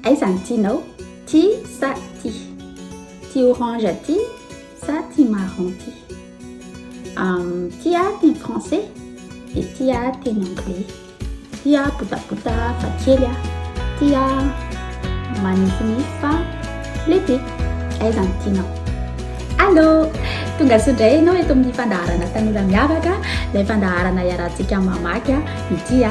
Aiza ny tianao? Ty sa ty? Ty orange ty sa ty marron ty? Um, ty aho teny français dia ty aho teny anglais. Ty aho botabota fa kely aho. Ty aho manifinify fa lehibe. Aiza ny tianao? Allo! Tonga soa indray ianao eto amin'ny fandaharana tanora miavaka, ilay fandaharana iarahantsika mamaky ny tia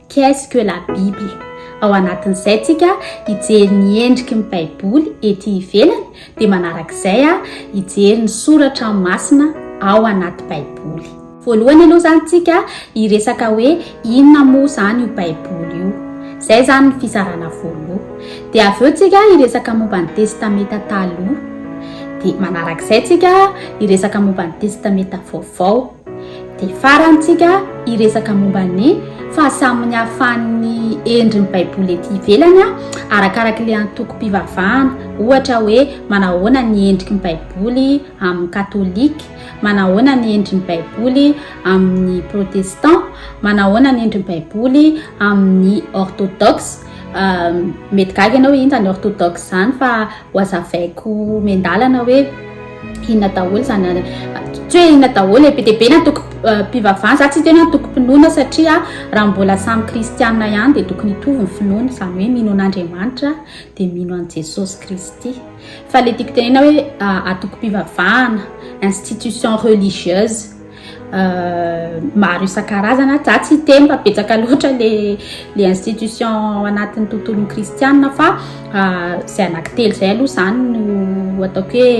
Qu'est-ce que la Bible? Ao anatin'izay tsika hijery ny endriky ny Baiboly ety ivelany dia manarak'izay a hijery ny soratra masina ao anaty Baiboly. Voalohany aloha zany tsika hiresaka hoe inona moa zany io Baiboly io. Zay zany ny fizarana voaloha. Dia avy eo tsika hiresaka momba ny Testameta Taloha. Dia manarak'izay tsika hiresaka momba ny Testameta Vaovao. Dia farany tsika hiresaka momba ny fahasamin'ny hahafahan'ny endrin'ny baiboly ety ivelany arakaraka ilay antokom-pivavahana. Ohatra hoe manahoana ny endriky ny baiboly amin'ny katolika, manahoana ny endrin'ny baiboly amin'ny protestant, manahoana ny endrin'ny baiboly amin'ny orthodoxe. Mety gaga ianao inona izany orthodoxe izany fa Wazavaiko miandalana hoe inona daholo izany tsy hoe inona daholo be dia be ny antoko mpivavahana za tsy tena antokom-pinoana satria raha mbola samy kristianina ihany dia tokony hitovy ny finoana izany hoe mino an'Andriamanitra dia mino an'i Jesosy Kristy fa le tiako tenena hoe antoko-pivavahana institution religieuse maro isan-karazana za tsy hiteny fa betsaka loatra le le institution ao anatin'ny tontolon'ny kristianina fa izay anankitelo izay aloha izany no ataoko hoe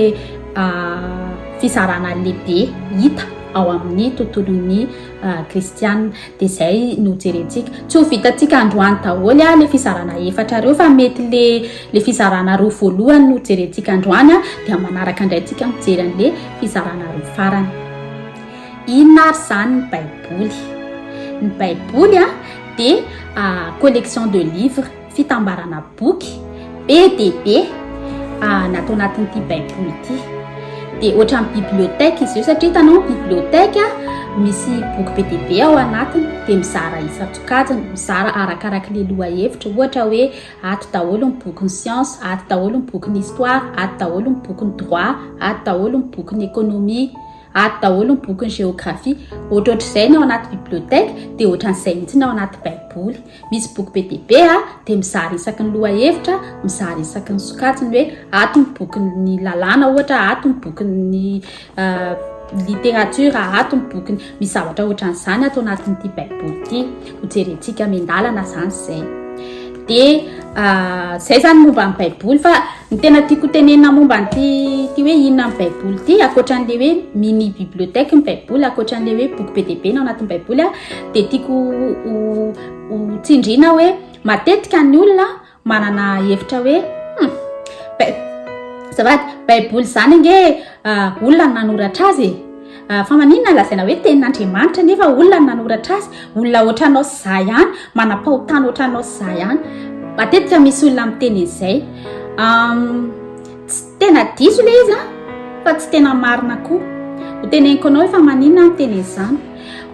fisarana lehibe hita ao amin'ny tontolon'ny kristianina dia izay no jerentsika tsy ho vitantsika androany daholo a le fisarana efatra reo fa mety le le fisarana roa voalohany no jerentsika androany a dia manaraka indray tsika mijery an'le fizarana roa farany. Inona ary izany ny Baiboly? Ny Baiboly dia collection de livres, fitambarana boky be dia be natao anatin'ity Baiboly ity. Dia ohatran'ny bibliothèque izy io satria hitanao bibliothèque misy boky be dia be ao anatiny dia mizara isan-tsokajiny, mizara arakaraky ny lohahevitra. Ohatra hoe Ato daholo ny bokin'ny siansa, ato daholo ny bokin'ny histoire, ato daholo ny bokin'ny droit, ato daholo ny bokin'ny économie, ato daholo ny bokin'ny géographie. Ohatrohatr'izay ny ao anaty bibliothèque dia ohatran'izay mihitsy ny ao anaty baiboly. Misy boky be dia be a, dia mizara isaky ny lohahevitra, mizara isaky ny sokajiny hoe ato ny bokin'ny lalàna ohatra, ato ny bokin'ny literatiora ato ny bokiny misy zavatra ohatran'izany ato anatin'ity baiboly ity hojerentsika mendalana zany zay de ah, zay zany momba ny baiboly fa ny tena tiako tenenina momba nyty ty hoe inona ny baiboly ity akoatran'le hoe mini bibliothèque ny baiboly akoatran'le hoe boky be deibe na anatin'ny baiboly a de tiako ho tsindrina hoe matetika ny olona Manana hevitra hoe hmm, bai- azafady, Baiboly izany ange ah, olona no nanoratra azy e. Ah, Fa maninona lazaina hoe tenin'Andriamanitra nefa olona no nanoratra azy? Olona ohatranao sy za ihany, manam-pahotana ohatranao sy za ihany. Matetika misy olona miteny an'izay. Am, Tena diso le izy an! Fa tsy tena marina koa. Ho teneniko anao efa maninona aho miteny an'izany.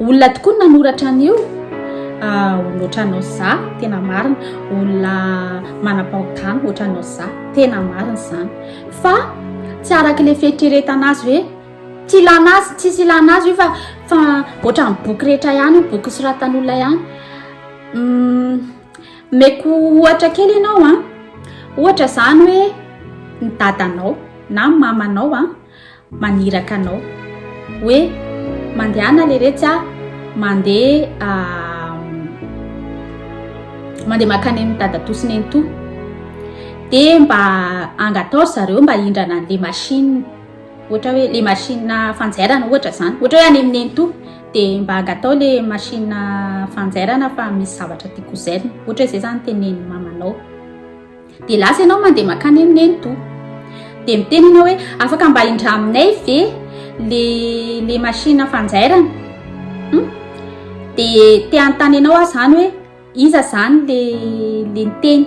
Olona tokoa no nanoratra an'io, olona ohatranao sy za, tena marina. Olona manam-pahotana ohatranao sy za, tena marina izany. Fa tsy araka ilay fieritreretana azy hoe tsy ilana azy, tsisy ilana azy io fa fa ohatran'ny boky rehetra ihany io, boky soratan'olona ihany. Omeko ohatra kely ianao an. Ohatra izany hoe ny dadanao na ny mamanao an maniraka anao hoe mandehana leretsy a mandeha mandeha makany amin'ny dadatoa sy nenitoa dia mba angataho ry zareo mba hindrana an'ilay machine ohatra hoe ilay machine fanjairana ohatra izany ohatra hoe any amin'ny nenitoa dia mba angatao le machine fanjairana fa misy zavatra tiako zairina ohatra izay zany tenen'ny mamanao dia lasa ianao mandeha makany aminay ny toa dia miteny ianao hoe afaka mba indra aminay ve le le machine fanjairana hmm? dia te hanontany ianao aho zany hoe iza zany le le niteny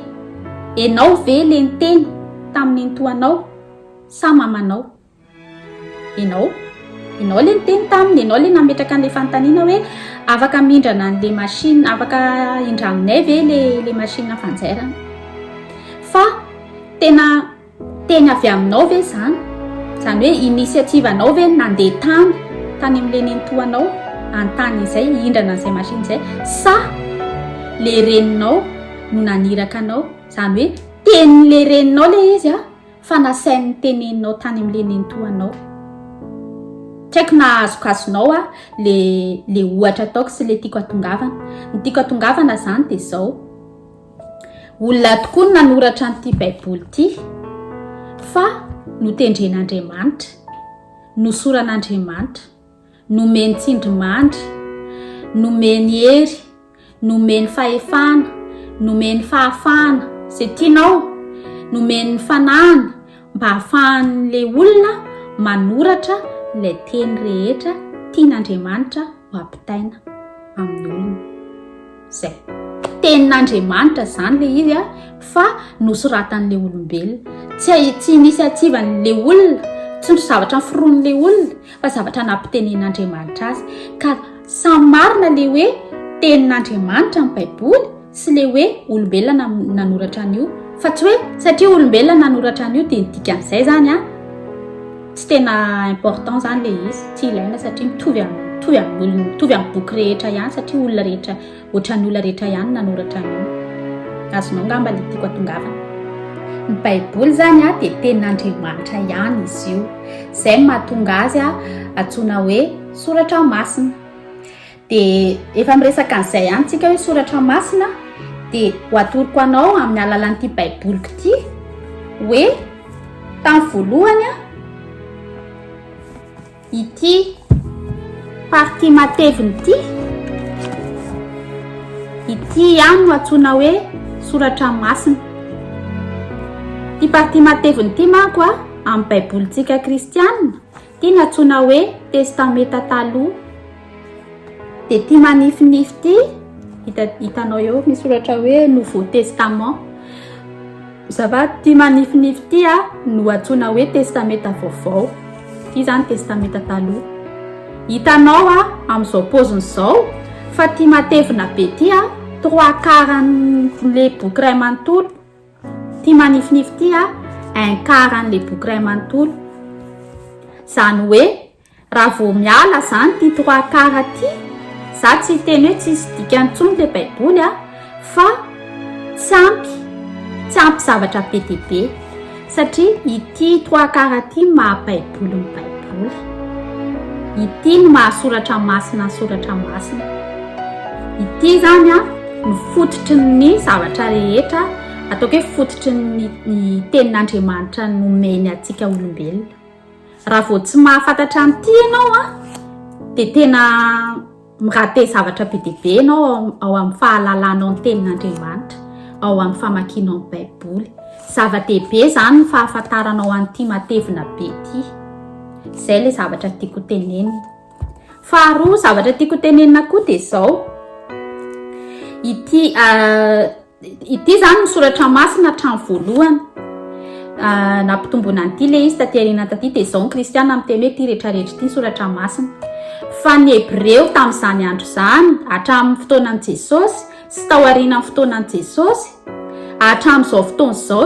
ianao ve le niteny tamin'ny nitoanao sa mamanao Ianao, ianao ilay niteny taminy, ianao ilay nametraka an'ilay fanontaniana hoe afaka mindrana an'ilay machine, afaka indraminay ve ilay ilay machine fanjairana. Fa tena teny avy aminao ve izany? Izany hoe initiative anao ve nandeha tany tany amin'ilay nenitoanao hanontany izay hindrana an'izay machine izay sa ilay reninao no naniraka anao? Izany hoe tenin'ilay reninao ilay izy a? Fa nasainy niteneninao tany amin'ilay nenitoanao. Tsy haiko na azokazonao aho ilay ohatra ataoko sy ilay tiako hatongavana. Ny tiako hatongavana izany dia izao, olona tokoa no nanoratra an'ity Baiboly ity, fa notendren'Andriamanitra, nosoran'Andriamanitra. nomeny tsindrimandry, nomeny hery, nomeny fahefana, nomeny fahafahana izay tianao, nomeny ny fanahiny mba hahafahan'ilay olona manoratra ilay teny rehetra tian'Andriamanitra ho ampitaina amin'ny olona. Zay. Tenin'Andriamanitra zany le izy a, fa nosoratan'le olombelona. Tsy a- tsy initiative-n'le olona, tsy ny zavatra noforonin'le olona, fa zavatra nampitenenin'Andriamanitra azy. Ka samy marina le hoe tenin'Andriamanitra ny Baiboly sy le hoe olombelona nam- nanoratra an'io. Fa tsy hoe satria olombelona nanoratra an'io dia ny dikan'izay zany a. Tsy tena important zany le izy, tsy ilaina satria mitovy am- mitovy amin'olona, mitovy amin'ny boky rehetra ihany satria olona rehetra, ohatran'ny olona rehetra ihany nanoratra an'io. Azonao angamba le tiako atongavana. Ny baiboly zany a dia tenin'Andriamanitra ihany izy io, zay no mahatonga azy a antsoina hoe soratra masina. Dia efa miresaka an'izay ihany tsika hoe soratra masina dia ho atoroko anao amin'ny alalan'ity baiboliko ity hoe tamin'ny voalohany a ity parti mateviny ity ity ihany no atsoina hoe soratra masina ity parti mateviny ity manko a amin'ny baibolintsika kristianina Ity natsoina hoe testameta taloha dia ity manifinify ity hita hitanao eo misy soratra hoe nouveau testament zava ity manifinify ity a no atsoina hoe testameta vaovao ity zany testameta taloha hitanao a amin'izao poziny izao fa ity matevina be ity a trois quart le boky ray manontolo Ty manifinify ty a un quart an le boky ray manontolo. Zany hoe raha vao miala zany ty trois quart ty, za tsy hiteny hoe tsisy dikany tsony le baiboly a, fa tsy ampy, tsy ampy zavatra be dia be satria. Ty trois quarts ty maha baiboly ny baiboly. Ity no maha soratra masina ny soratra masina. Ity zany an no fototry ny zavatra rehetra ataoko hoe fototry ny ny tenin'Andriamanitra nomeny antsika olombelona. Raha vao tsy mahafantatra an'ity ianao an dia tena Mirahabe zavatra be dia be ianao ao amin'ny fahalalanao ny Tenin'Andriamanitra, ao amin'ny famakianao ny Baiboly. Zava-dehibe izany ny fahafantaranao an'ity matevina be ity. Izay ilay zavatra tiako tenenina. Faharoa zavatra tiako tenenina koa dia izao, ity... Ity izany ny soratra masina hatramin'ny voalohany. Ah, nampitomboina an'ity le izy taty aoriana taty dia izao ny kristiana miteny hoe ity rehetrarehetra ity ny soratra masina fa ny hebreo tamin'izany andro izany hatramin'ny fotoanan'i jesosy sy tao aorianan'ny fotoanan'i jesosy hatramin'izao fotoana izao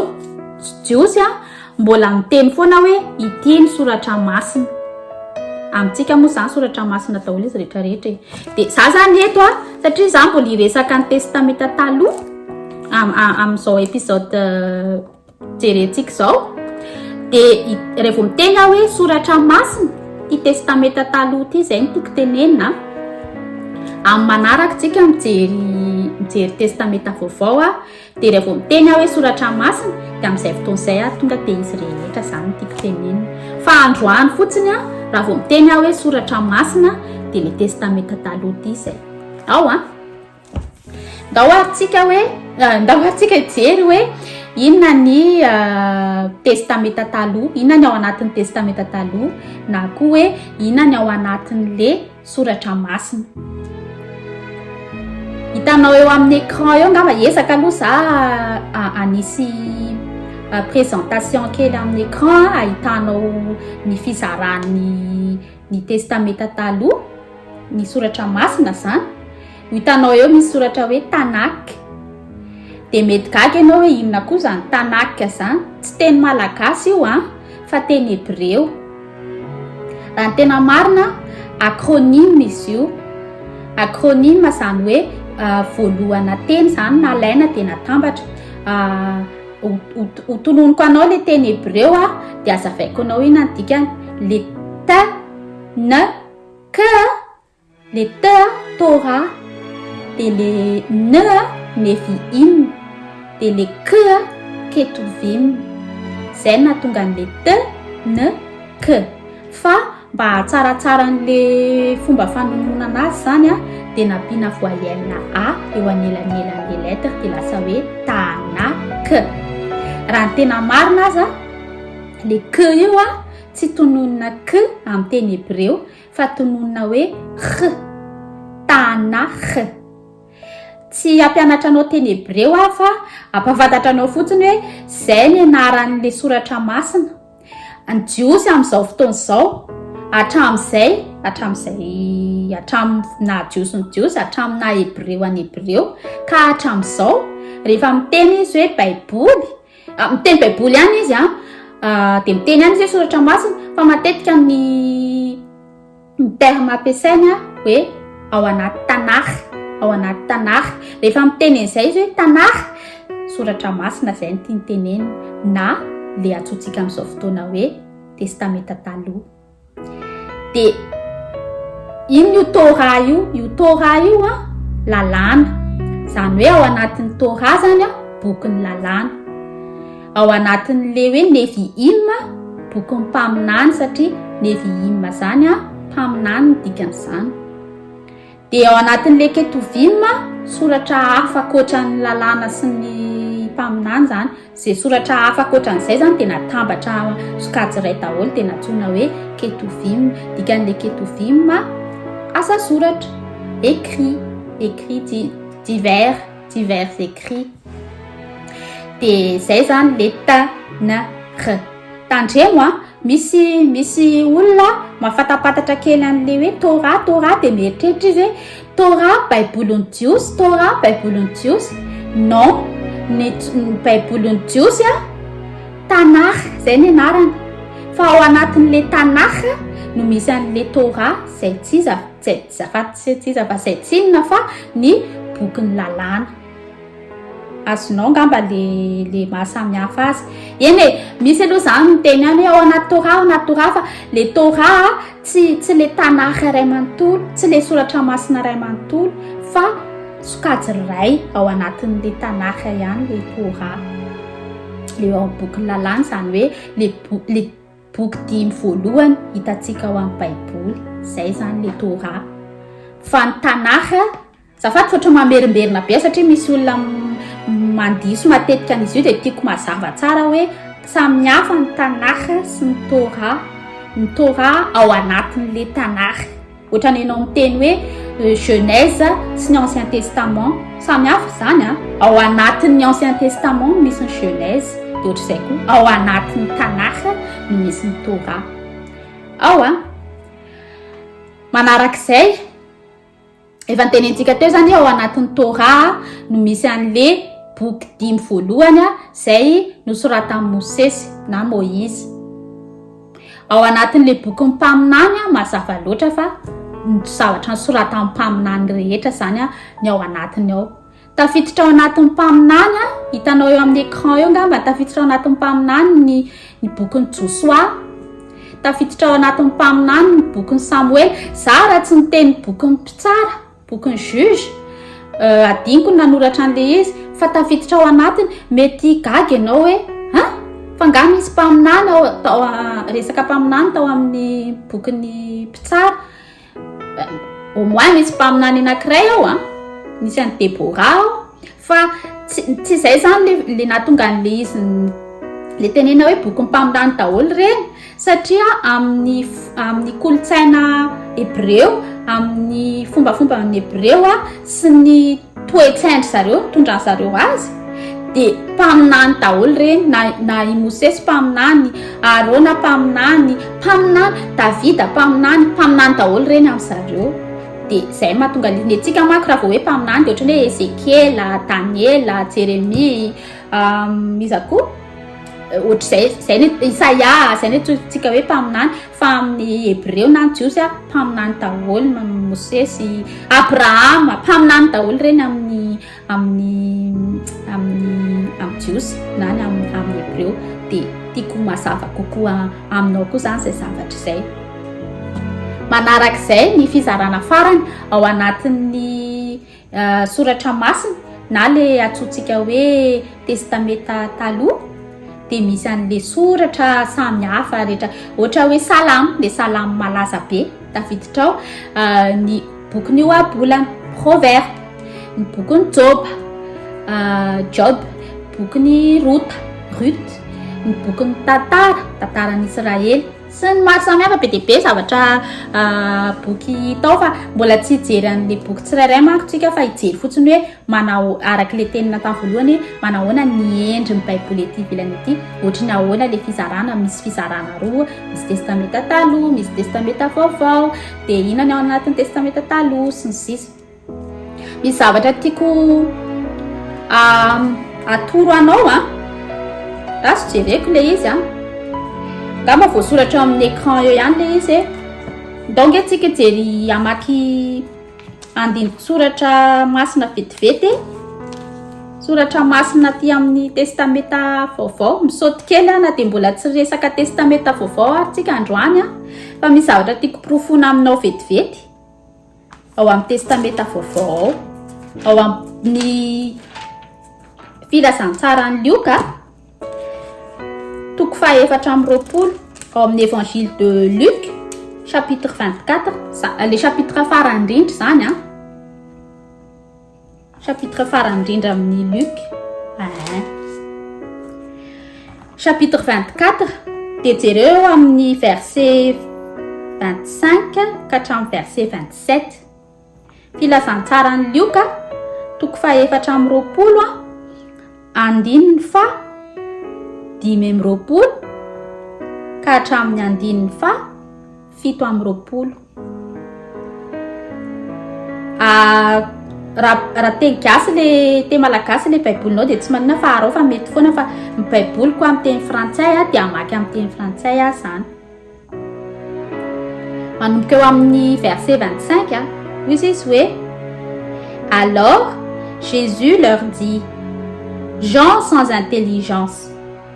jiosy a Mbola miteny foana hoe ity ny soratra masina. Amintsika moa izany soratra masina daholo izy rehetra rehetra e. Dia za zany eto a, satria za mbola hiresaka ny testamenta taloha am, amin'izao episode euh, jerentsika izao. Dia rehefa vao miteny aho hoe soratra masina, ty testamenta taloha ty izay no toko tenenina. Amin'ny manaraka tsika mijery mijery testamenta vaovao a. Dia rehefa miteny aho hoe soratra masina dia amin'izay fotoana izay ary tonga dia izy rehetra izany no tiako tenenina. Fa androany fotsiny aho raha vao miteny aho hoe soratra masina dia ilay testamenta taloha ity izay. Ao an! Ndao ary tsika hoe, eh, ndao ary tsika hijery hoe inona ny eh, testamenta taloha, inona ny ao anatin'ny testamenta taloha na koa hoe inona ny ao anatin'le soratra masina. Hitanao eo amin'ny écran eo angamba ezaka aloha za anisy présentation kely amin'ny écran ahitanao ny fizaran'ny ny testamenta taloha ny soratra masina zany Ho hitanao eo misy soratra hoe Tanakh. Dia mety gaga ianao hoe inona koa izany Tanakh izany? Tsy teny malagasy io an, fa teny hebreo. Raha ny tena marina, acronyme izy io. Acronyme izany hoe voalohana teny izany nalaina dia natambatra. Ho tononiko anao ilay teny hebreo an, dia azavaiko anao inona ny dikany. Le ta, na, ka Le T a, Torah, dia le N a, Nevi'im, dia le K a, Ketuvim. Izay no nahatonga an'le T, N, K. Fa mba hahatsaratsara an'le fomba fanononana azy izany a, dia nampiana voyelle-na A eo anelanelan'le lettre dia lasa hoe Tanakh. Raha ny tena marina aza, le K io a, tsy tononina K amin'ny teny hebreo fa tononina hoe Kh, Tanakh. Tsy hampianatra anao teny hebreo aho fa hampahafantatra anao fotsiny hoe izay ny anaran'ilay soratra masina. Ny Jiosy amin'izao fotoana izao, hatramin'izay, hatramin'izay, hatramin'ny naha Jiosy ny Jiosy, hatramin'ny naha Hebreo an'i Hebreo, ka hatramin'izao, rehefa miteny izy hoe Baiboly, Ah, miteny baiboly ihany izy a ah, dia miteny ihany izy hoe soratra masina fa matetika ny ny terme ampiasaina hoe ao anaty tanara ao anaty tanara rehefa miteny an'izay izy hoe tanara soratra masina izay ny tiany tenenina na le antsointsika amin'izao fotoana hoe testamenta taloha dia ino io Torah io io Torah io a lalàna izany hoe ao anatin'ny Torah zany a bokin'ny lalàna ao anatin'le hoe Nevi'im bokin'ny mpaminany satria Nevi'im zany a mpaminany ny dikan'izany Dia ao anatin'ilay Ketuvim, soratra hafa ankoatra ny lalàna sy ny mpaminany izany, izay soratra hafa ankoatra an'izay izany dia natambatra sokajy iray daholo dia nantsoina hoe Ketuvim. Dikan'ilay Ketuvim, asa soratra, écrit, écrit di- divers, divers écrits. Dia izay izany ilay ta, na, ra. Tandremo an, Misy misy olona mafatapatatra kely an'le hoe Torah Torah dia mieritreritra izy hoe Torah baibolin'ny Jiosy Torah baibolin'ny Jiosy non ny baibolin'ny Jiosy a Tanakh zay ny anarany fa ao anatin'le Tanakh no misy an'le Torah zay tsy iza zay fa tsy iza fa zay tsinona fa ny bokin'ny lalàna azonao ngamba le le mahasamihafa azy eny e misy aloha zany miteny any ao anaty torah ao anaty torah fa le torah tsy tsy le tanakh iray manontolo tsy le soratra masina iray manontolo fa sokajy iray ao anatin'le tanakh ihany le torah le ao boky lalàna zany hoe le le boky dimy voalohany hitatsika ao amin'ny baiboly zay zany le torah fa ny tanakh Zafady fa tsy mamerimberina be satria misy olona mandiso matetika an'izy io dia tiako mazava tsara hoe samy hafa ny Tanakh sy ny Torah. Ny Torah ao anatin'ilay Tanakh. Ohatran'ny ianao miteny hoe Genèse sy ny Ancien Testament. Samy hafa izany an! Ao anatin'ny Ancien Testament no misy ny Genèse dia ohatr'izay koa ao anatin'ny Tanakh no misy ny Torah ao an! Manarak'izay. Efa nitenenintsika teo izany ao anatin'ny Torah no misy an'le boky dimy voalohany izay nosoratan'i Mosesy na Moïse. Ao anatin'le bokin'ny mpaminany mazava loatra fa ny zavatra nosoratan'ny mpaminany rehetra izany ny ao anatiny ao. Tafiditra ao anatin'ny mpaminany a, hitanao eo amin'ny écran eo ngamba, tafiditra ao anatin'ny mpaminany ny ny bokin'i Josoa, tafiditra ao anatin'ny mpaminany ny bokin'i Samoela. Za raha tsy niteny bokin'ny mpitsara, bokin'i juge, euh, adiniko ny nanoratra an'ilay izy, fa tafiditra ao anatiny, mety gaga ianao hoe an? Fa nga misy mpaminany ao, resaka mpaminany tao amin'ny bokin'ny mpitsara. Au moins misy mpaminany anankiray ao an, misy an'i Deborah ao, fa tsy tsy izay izany le le nahatonga an'le izy le tenena hoe bokin'ny mpaminany daholo ireny satria amin'ny amin'ny kolontsaina hebreo, amin'ny fombafomban'ny hebreo a sy ny toetsain-dry zareo nitondran'zareo azy dia mpaminany daholo ireny na na i Mosesy mpaminany, Arona mpaminany, mpaminany, Davida mpaminany, mpaminany daholo ireny amin'zareo. Dia izay no mahatonga ny antsika manko raha vao hoe mpaminany dia ohatran'ny hoe Ezekiela, Daniela, Jeremia, iza koa? ohatr'izay zay ny isaia zay ny atsointsika hoe mpaminany fa amin'ny hebreo na ny jiosy a mpaminany daholo na mosesy abrahama mpaminany daholo ireny amin'ny amin'ny amin'ny amin'ny jiosy na ny am amin'ny hebreo dia tiako mazava kokoa aminao koa zany zay zavatra izay manarak'izay ny fizarana farany ao anatin'ny Soratra masina na le atsotsika hoe testameta taloha dia misy an'le soratra samy hafa rehetra ohatra hoe salamo le salamo malaza be tafiditra ao ah, ny bokiny io abolana proverbe ny bokiny joba ah, job bokiny rota rut ny bokiny tantara tantaran'israely sy ny maro samihafa be dia be zavatra boky tao fa mbola tsy hijery an'le boky tsirairay manko tsika fa hijery fotsiny hoe manao araka le tenina tany voalohany hoe manahoana ny endry ny baiboly ety ivelany ety ohatry ny ahoana le fizarana misy fizarana roa misy testamenta taloha misy testamenta vaovao dia inona ny ao anatin'ny testamenta taloha sy ny sisa Misy zavatra tiako atoro anao a. Raha tsy jereko le izy a. Nga mba voasoratra eo amin'ny écran eo ihany le izy e. Ndao nge tsika jery hamaky andiniko soratra masina vetivety e. Soratra masina aty amin'ny testameta vaovao. Misaoty kely a na dia mbola tsy resaka testameta vaovao ary tsika androany a. Fa misy zavatra tiako porofoina aminao vetivety. ao amin'ny Testamenta Vaovao ao, ao amin'ny filazantsaran'i Lioka, toko fahefatra amby roapolo, ao amin'ny Évangile de Luc, chapitre 24, le chapitre farany indrindra izany an. Chapitre farany indrindra amin'ny Luc. Ahin. Chapitre 24 dia jereo amin'ny verset 25 ka hatramin'ny verset 27. Filazantsaran'i Lioka toko fahefatra amin'ny roapolo andininy fa dimy amin'ny roapolo ka hatramin'ny andininy fa fito amby roapolo ah, raha teny gasy le teny malagasy le baibolinao dia tsy manina fa arao fa mety foana fa ny baiboliko amin'ny teny frantsay a dia amaky amin'ny teny frantsay a zany manomboka eo amin'ny verset 25 a hoy izy izy hoe alors Jésus leur dit gens sans intelligence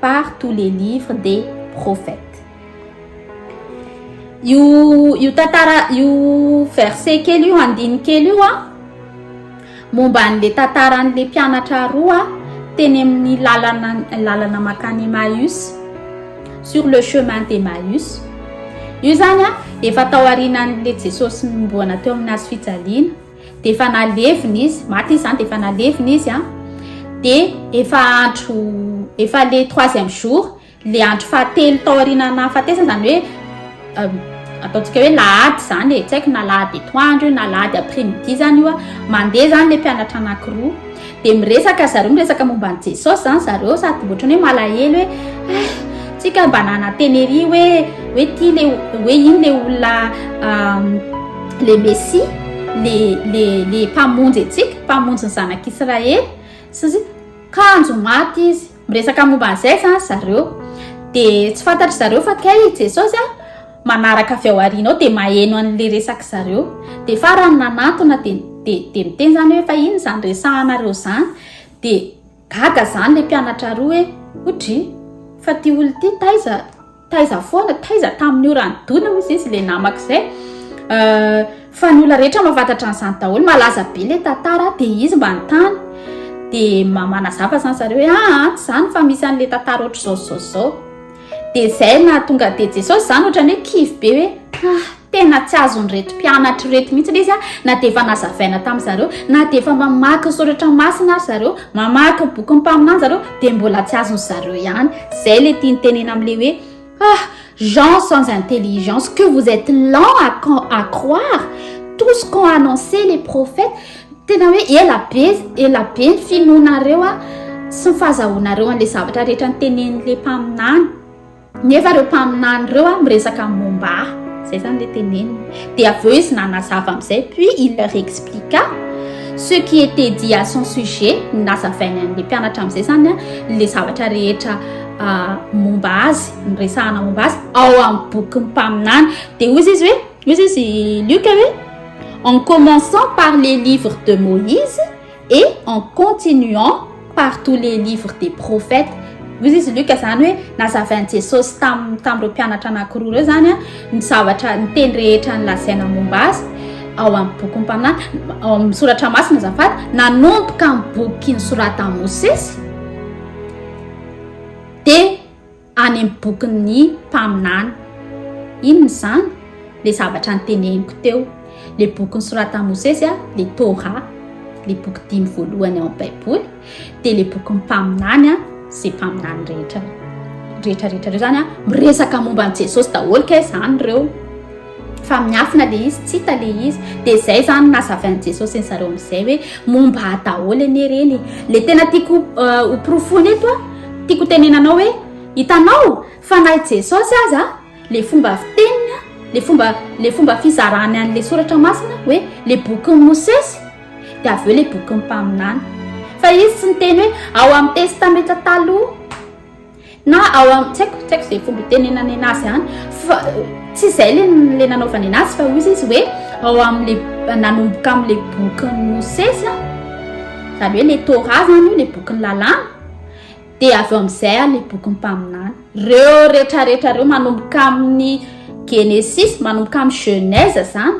par tous les livres des prophètes. Io io tantara io verset kely io andiny kely io a momba an'le tantaran'le mpianatra roa teny amin'ny lalana lalana makany Emmaüs sur le chemin d'Emmaüs. Io zany a efa tao aorianan'le Jesosy mboana teo amin'ny hazo fijaliana. dia efa nalevina izy maty izy zany dia efa nalevina izy a dia efa andro efa le troisième jour le andro fahatelo taoriana nahafatesana zany hoe euh, ataontsika hoe lahady zany e tsy haiko na lahady etoandro io na lahady après midi zany io a mandeha zany le mpianatra anankiroa Dia miresaka zareo miresaka momba an'i Jesosy izany zareo sady ohatrany hoe malahelo hoe ah, tsika mba nananteneria hoe hoe ty le hoe iny le olona le Messie le le le mpamonjy antsika mpamonjy ny zanak'Israely sy kanjo maty izy Miresaka momba an'izay izany zareo, dia tsy fantatry zareo fa kay i Jesosy a, manaraka avy ao aoriana ao dia maheno an'ilay resaka zareo. Dia farany nanantona dia dia dia miteny izany hoe fa inona izany resahanareo izany? Dia gaga izany ilay mpianatra roa hoe, o dry, fa ity olona ity taiza? Taiza foana, taiza tamin'io raha nidona hoy izy ilay namako izay. Fa ny olona rehetra mafatatra an'izany daholo, malaza be ilay tantara dia izy mba nitany. Dia manazava izany zareo hoe aa ah, tsy izany fa misy an'ilay tantara ohatr'izao zao zao. Dia izay nahatonga dia Jesosy izany ohatrany hoe kivy be hoe ah. Tena tsy azon'ireto mpianatra ireto mihitsy ilay izy na dia efa nazavaina tamin'ny zareo, na dia efa mamaky ny soratra masina ary zareo, mamaky ny bokin'ny mpaminany zareo dia mbola tsy azon'ny zareo ihany. Izay ilay tiany tenena amin'ilay hoe ah gens sans intelligence que vous êtes lent à, à croire tout ce qu'ont annoncé les prophètes. Tena hoe ela be, ela be ny finoanareo sy ny fahazahoanareo an'ilay zavatra rehetra notenenin'ilay mpaminany. Nefa ireo mpaminany ireo a miresaka momba ahy, izay izany ilay teneniny. Dia avy eo izy nanazava amin'izay, puis il leur expliqua ce qui était dit à son sujet, ny nazavainy an'ilay mpianatra amin'izay izany a, ilay zavatra rehetra momba azy, niresahana momba azy ao amin'ny bokin'ny mpaminany. Dia hoy izy hoe, hoy izy Luc hoe en commençant par les livres de Moïse, et en continuant par tous les livres des prophètes hoy izy Luc zany hoe nazavain'i Jesosy tamin'ny tamin'ireo mpianatra anankiroa ireo zany ny zavatra ny teny rehetra nilazaina momba azy ao amin'ny bokin'ny mpaminany ao amin'ny soratra masina azafady nanomboka amin'ny bokin'ny soratan'i Mosesy dia any amin'ny bokin'ny mpaminany. Inona izany? Ilay zavatra noteneniko teo, ilay boky nosoratan'i Mosesy, ilay Torah, ilay boky dimy voalohany ao amin'ny Baiboly, dia ilay bokin'ny mpaminany, izay mpaminany rehetra rehetra rehetra ireo izany miresaka momba an'i Jesosy daholo kay izany ireo. fa miafina le izy tsy hita le izy de zay zany nazavan'i jesosy an'zareo am'izay hoe momba ahy daholo anie reny le tena tiako euh, ho profony eto a tiako tenenanao hoe hitanao fa na i jesosy aza le fomba fiteniny a le fomba le fomba fizarany an'le soratra masina hoe le bokin'i mosesy de avy eo le bokin'ny mpaminany fa izy tsy niteny hoe ao amin'ny testamenta taloha Na ao am, tsy haiko, tsy haiko izay fomba itenenana ena azy any, fa tsy izay le le nanaovana ena azy fa hoy izy hoe ao amle nanomboka amle bokin'i Mosesy an, zany hoe le Torah zany io le bokin'ny lalàna, dia avy eo amizay an le bokin'ny mpaminany. Reo retraretra reo manomboka amin'ny Genesis, manomboka amin'ny Genèse zany,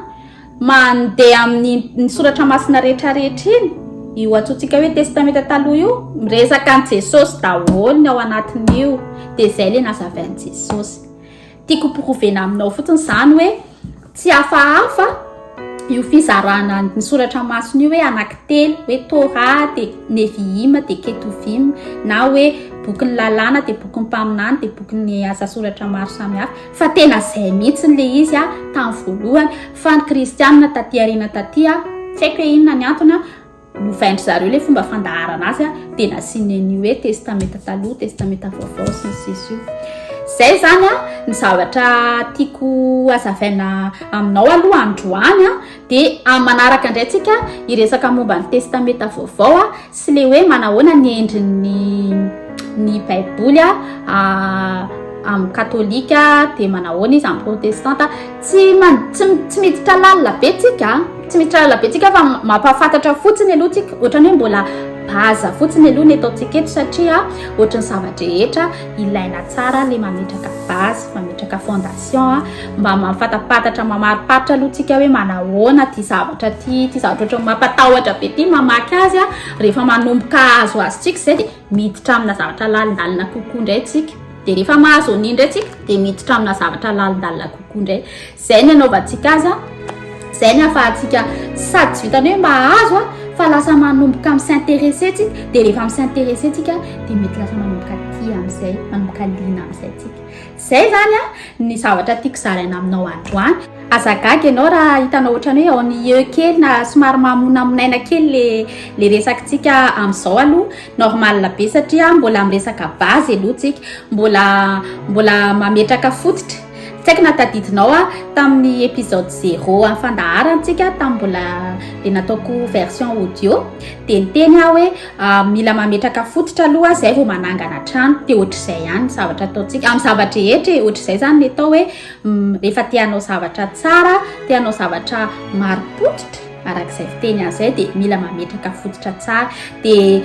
Mandeha amin'ny ny soratra masina rehetra rehetra iny, io antsointsika hoe testamenta taloha io, miresaka an'i Jesosy daholo ny ao anatin'io, dia izay ilay nazavain'i Jesosy. Tiako hoporovena aminao fotsiny izany hoe tsy hafahafa io fizarana ny soratra masina io hoe anankitelo, hoe Torah dia Nevi'ima dia Ketuvim, na hoe bokin'ny lalàna dia bokin'ny mpaminany dia bokin'ny asa soratra maro samihafa. Fa tena zay mihitsiny le izy a tam voalohany fa ny kristianina taty aoriana taty a tsy haiko hoe inona ny antony a novaindry zareo le fomba fandaharana azy a de nasiany ny hoe testamenta taloha testamenta vaovao sy ny sisa io zay zany a ny zavatra tiako hazavaina aminao aloha androany a Dia amin'ny manaraka indray tsika hiresaka momba ny testamenta vaovao sy le hoe manahoana ny endriny ny baiboly amin'ny katolika dia manahoana izy amin'ny protestanta tsy tsy miditra lalina be tsika tsy miditra lalina be tsika fa mampahafantatra fotsiny aloha tsika ohatrany hoe mbola baza fotsiny aloha ny ataontsika eto satria ohatrany zava-drehetra ilaina tsara le mametraka baza mametraka fondation mba mahafatapatatra mamariparitra aloha tsika hoe manahoana ty zavatra ty ty zavatra ohatran'ny mampatahotra be ty mamaky azy a rehefa manomboka azo azy tsika izay dia miditra amina zavatra lalindalina kokoa indray tsika dia rehefa mahazo an'iny indray tsika dia miditra amina zavatra lalindalina kokoa indray izay ny anaovantsika azy a izay ny hahafahantsika sady tsy vitany hoe mahazo a fa lasa manomboka amin'ny s'intéresser tsika dia rehefa amin'ny s'intéresser tsika dia mety lasa manomboka tia amin'izay manomboka liana amin'izay tsika Izay izany ny zavatra tiako zaraina aminao androany. Aza gaga ianao raha hitanao ohatran'ny hoe ennuyeux kely na somary mamonamonaina kely le le resakintsika amin'izao aloha normal be satria mbola miresaka base aloha tsika, mbola mbola mametraka fototra. Tsy haiko na tadidinao aho tamin'ny episode zero amin'ny fandaharantsika tamin'ny mbola le nataoko version audio dia niteny aho hoe Mila mametraka fototra aloha zay vao manangana trano dia ohatr'izay ihany ny zavatra ataontsika amin'ny zava-drehetra e ohatr'izay zany ny atao hoe rehefa te hanao zavatra tsara te hanao zavatra marim-pototra arak'izay fiteny azy zay dia mila mametraka fototra tsara dia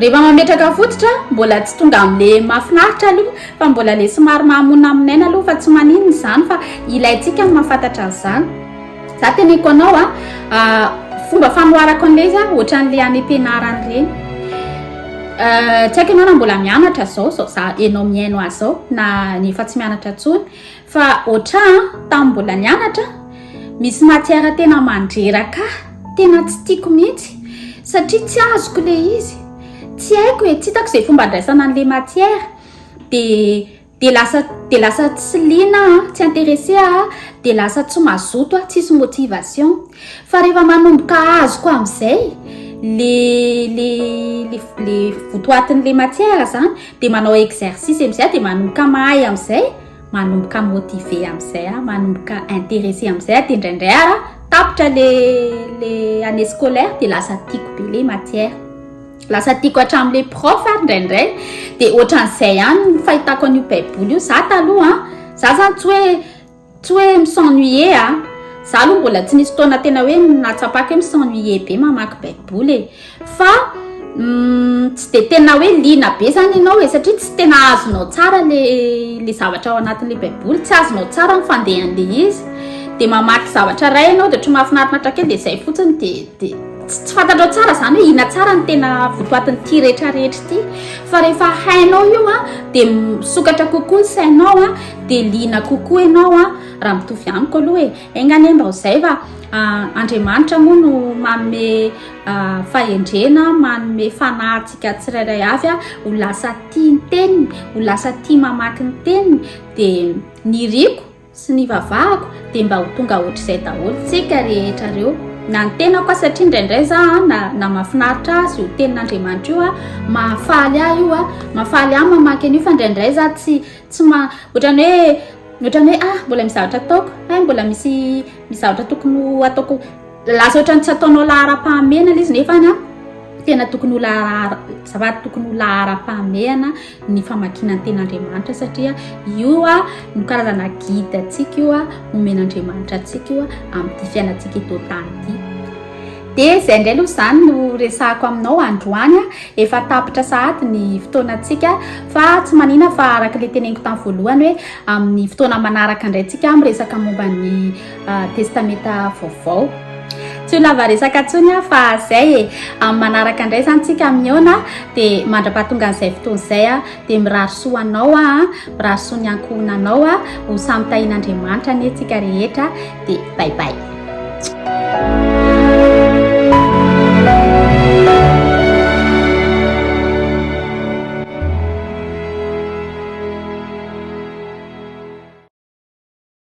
rehefa mametraka fototra mbola tsy tonga amin'le mahafinaritra aloha fa mbola le somary mahamonina aminaina aloha fa tsy maninona izany fa ilaintsika ny mahafantatra an'izany Za teneniko anao a, fomba fanoharako an'ilay izy a, ohatran'ilay any am-pianarana ireny. Tsy haiko ianao na mbola mianatra izao, izao za ianao mihaino ahy izao, na ny efa tsy mianatra intsony, fa ohatran tamin'ny mbola nianatra, misy matière tena mandreraka ahy, tena tsy tiako mihitsy, satria tsy azoko ilay izy, tsy haiko e, tsy hitako izay fomba andraisana an'ilay matière, dia. dia lasa dia lasa tsy liana aho tsy intéressé aho dia lasa tsy mazoto aho tsisy motivation fa rehefa manomboka azoko amin'izay le le le le votoatin'le matière zany dia manao exercice amin'izay aho dia manomboka mahay amin'izay manomboka motivé amin'izay aho manomboka intéressé amin'izay aho dia indraindray ara tapitra le le année scolaire dia lasa tiako be le matière Lasa tiako hatramin'ilay prof ary indraindray dia ohatran'izay ihany ny fahitako an'io baiboly io za taloha a za zany tsy hoe tsy hoe misennuie a za aloha mbola tsy nisy fotoana tena hoe nahatsapako hoe misennuie be mamaky baiboly e fa mm, tsy dia tena hoe lina be zany ianao e satria tsy tena azonao tsara le le zavatra ao anatin'le baiboly tsy azonao tsara ny fandehan'le izy dia mamaky zavatra ray ianao dia ohatry mahafinarina hatrake dia izay fotsiny dia Dia tsy tsy fantatrao tsara izany hoe ina tsara ny tena votoatin'ity rehetrarehetra ity fa rehefa hainao io a dia misokatra kokoa ny sainao a dia liana kokoa ianao a raha mitovy amiko aloha e enganie mba ho izay fa andriamanitra moa no manome fahendrena manome fanahy antsika tsirairay avy a ho lasa tia ny teniny ho lasa tia mamaky ny teniny dia ny riko sy ny vavahako dia mba ho tonga ohatr'izay daholo tsika rehetra reo na ny tenako aho satria indraindray za a na na mafinaritra azy io tenin'andriamanitra io a mahafaly ahy io a mahafaly ahy mamaky an'io fa indraindray za tsy tsy ma ohatrany hoe ohatrany hoe ah mbola mizavatra ataoko hay mbola misy mizavatra tokony ho ataoko lasa ohatrany tsy ataonao laharam-pahamehana lay izy nefa na tena tokony ho lahara zafady tokony ho laharam-pahamehana ny famakiana ny ten'Andriamanitra satria io no karazana guide antsika io omen'Andriamanitra antsika io amin'ity fiainantsika eto tany ity. Dia izay indray aloha izany no resahako aminao androany, efa tapitra sahady ny fotoanantsika fa tsy manina fa araka ilay teneniko tamin'ny voalohany hoe amin'ny fotoana manaraka indray tsika miresaka momba ny Testamenta Vaovao. Tsy ho lava resaka intsony aho fa izay e. Amin'ny manaraka indray izany tsika mihaona dia mandrapahatongan'izay fotoana izay dia mirary soa anao aho, mirary soa ny ankohonanao aho, ho samy tahin'Andriamanitra anie tsika rehetra dia bye bye.